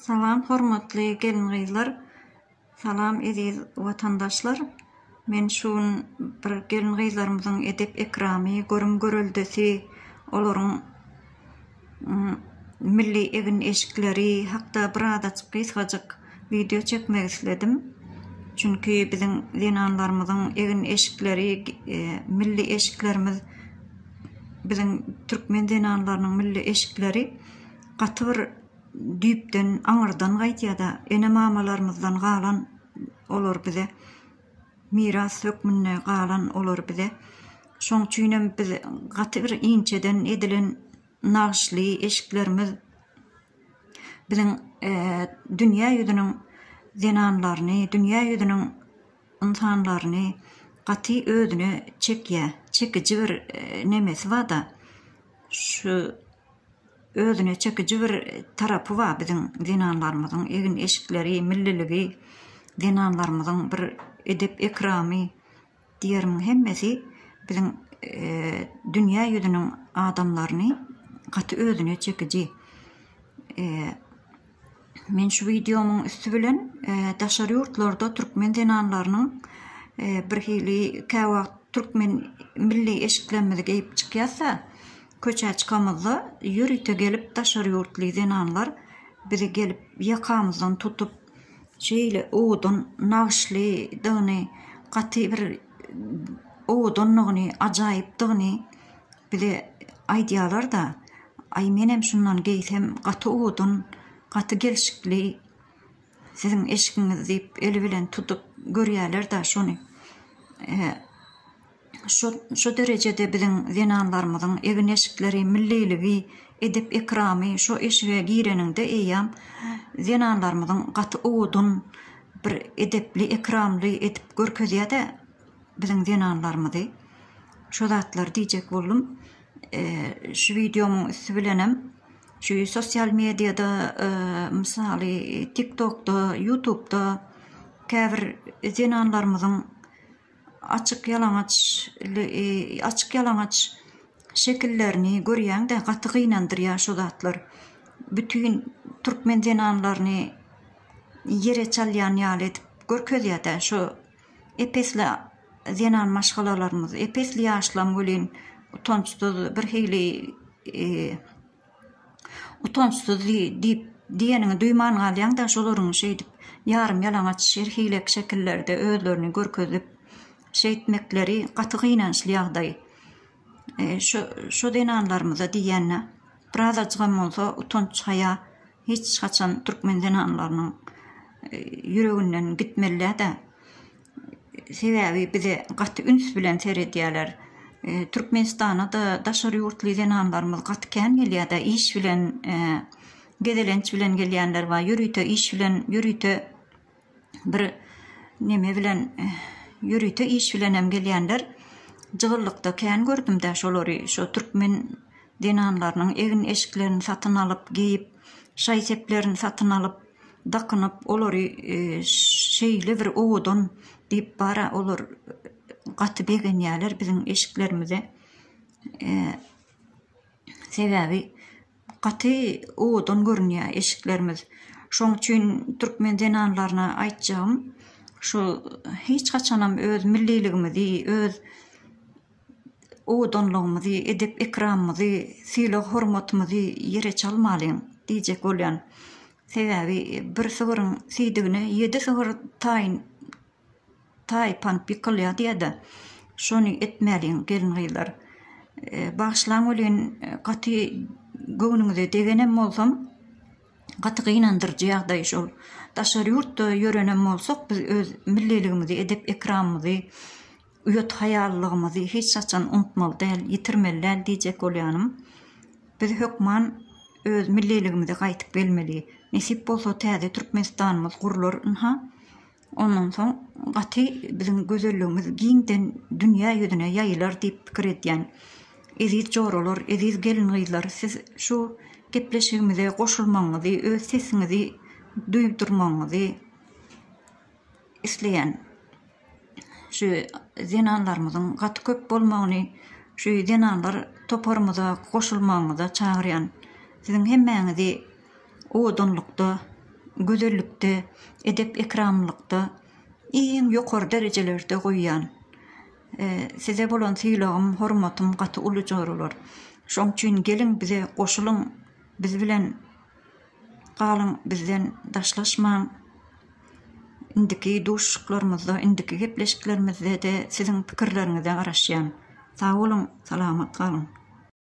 Salam hormatly gelin gyzlar salam eziz watandaşlar men şu gün bir gelin gyzlarymyzyň edep ekramy görüm göreldesi olaryň milli egin eşikleri hakda bir azajyk gysgajyk wideo çekmek isledim çünki biziň zenanlarymyzyň egin eşikleri milli eşiklerimiz biziň türkmen zenanlarynyň milli eşikleri gaty bir düýpden, aňyrdan gaýtýar-da, ene-mamalarymyzdan galan olar bize, miras hökmünde galan olar bize. Şoň üçin hem biz gaty bir inçeden edilen nagyşly eşiklerimiz biziň dünýä ýüzüniň zenanlaryny, dünýä ýüzüniň ynsanlaryny gaty özüne çekýär, çekiji bir nemesi bar-da, şu. Özüne çekiji bir tarapy bar biziň zenanlarymyzyň egin-eşikleri, milliligi, zenanlarymyzyň bir edep-ekramy diýerim hemmesi biziň dünýä ýüzüniň adamlaryny gaty özüne çekiji Men şu wideomyň üsti bilen daşary ýurtlarda türkmen zenanlarynyň bir hili käwagt türkmen milli eşiklerimizi geýip çykýasda, köçä çykamyzda ýörite gelip daşary ýurtly zenanlar bizi gelip ýakamyzdan tutup şeýle owadan nagyşlydygyny, gaty bir owadandygyny, ajaýypdygyny Bile aýdýalar-da, Aý, menem şundan geýsem, gaty owadan, gaty gelşikli siziň eşigiňiz diýip, eli bilen tutup görýäler-de şony. Şo, şo derejede biziň zenanlarymyzyň egin-eşikleri, milliligi, edep-ekramy, şo eşige gireniňde eýýäm zenanlarymyzyň gaty owadan, bir edepli-ekramly edip görkezýär-de. biziň zenanlarymyzy şo zatlary diýjek boldum şu wideomyň üsti bilenem şu sosial mediada mysaly tik tokda ýutubda käbir zenanlarymyzyň açyk ýalaňaç açyk ýalaňaç şekillerini görýäňdä gaty gynandyrýar şo zatlar bütin türkmen zenanlaryny ýere çalýan ýaly edip görkezýädä şo Ep-esli zenan maşgalalarymyz, ep-esli ýaşlam welin utançsyz, birhili utançsyz diýip diýeniňi duýman galýaň-da, şolaryň şeýdip ýarym-ýalaňaç her hili şekillerde özlerini görkezip şeýtmekleri gaty gynançly ýagdaý. Şo-şo zenanlarymyza diýende birazajygam bolsa utanç-haýa. Hiç haçan türkmen zenanlarynyň ýüreginden gitmelidä. Sebäbi bize gaty üns bilen seredýäler. Türkmenistana-da daşary ýurtly zenanlarymyz gaty kän gelýär-de, iş bilen, gezelenç bilen gelýänler bar, ýörite iş bilen, ýörite. bir neme bilen ýörite iş bilenem gelýänler. Jygyllykda kän gördüm-de şolary, şo türkmen zenanlarynyň egin-eşiklerini satyn alyp, geýip, şaý-seplerini satyn alyp, dakynyp, olary şeýle bir owadan diýip bar-a, olar gaty begenýärler biziň eşiklerimize. Sebäbi Gaty owadan görünýär eşiklerimiz. Şoň üçin türkmen zenanlaryna aýtjagym, şu hiç haçanam öz milliligimizi, öz owadanlygymyzy, edep-ekramymyzy, sylag-hormatymyzy ýere çalmalyň diýjek bolýan. Sebäbi bir sygryň siýdigine ýedi sygyr taýyn. taý pan pikilýady ýa-da şony etmäliň gelin-gyzlar. Bagyşlaň welin gaty göwnüňize degenem bolsam, gaty gynandyryjy ýagdaý şol. Daşary ýurtda ýörenem bolsak biz öz milliligimizi, edep-ekramymyzy, uýat-haýalylygymyzy hiç haçan unutmaly däl, ýitirmeli däl diýjek bolýanym. Biz hökman öz milliligimize gaýtyp gelmeli. Nesip bolsa täze Türkmenistanymyz gurlar ynha. Ondan soň gaty biziň gözelligimiz giňden dünýä ýüzüne ýaýylar diýip pikir edýän. Eziz joralar, eziz gelin-gyzlar, siz şu gepleşigimize goşulmagyňyzy, öz sesiňizi duýdurmagyňyzy isleýän. Şu zenanlarymyzyň gaty köp bolmagyny, şu zenanlar toparymyza goşulmagyňyza çagyrýan. Siziň hemmäňizi owadanlykda, gözellikde, edep-ekramlykda iň ýokary derejelerde goýýan. Size bolan sylagym, hormatym gaty uly joralar. Şoň üçin geliň bize goşulyň, biz bilen galyň, bizden daşlaşmaň. Indiki duşuşyklarymyzda, indiki gepleşiklerimizde-de siziň pikirleriňize garaşýan. Sag boluň, salamat galyň!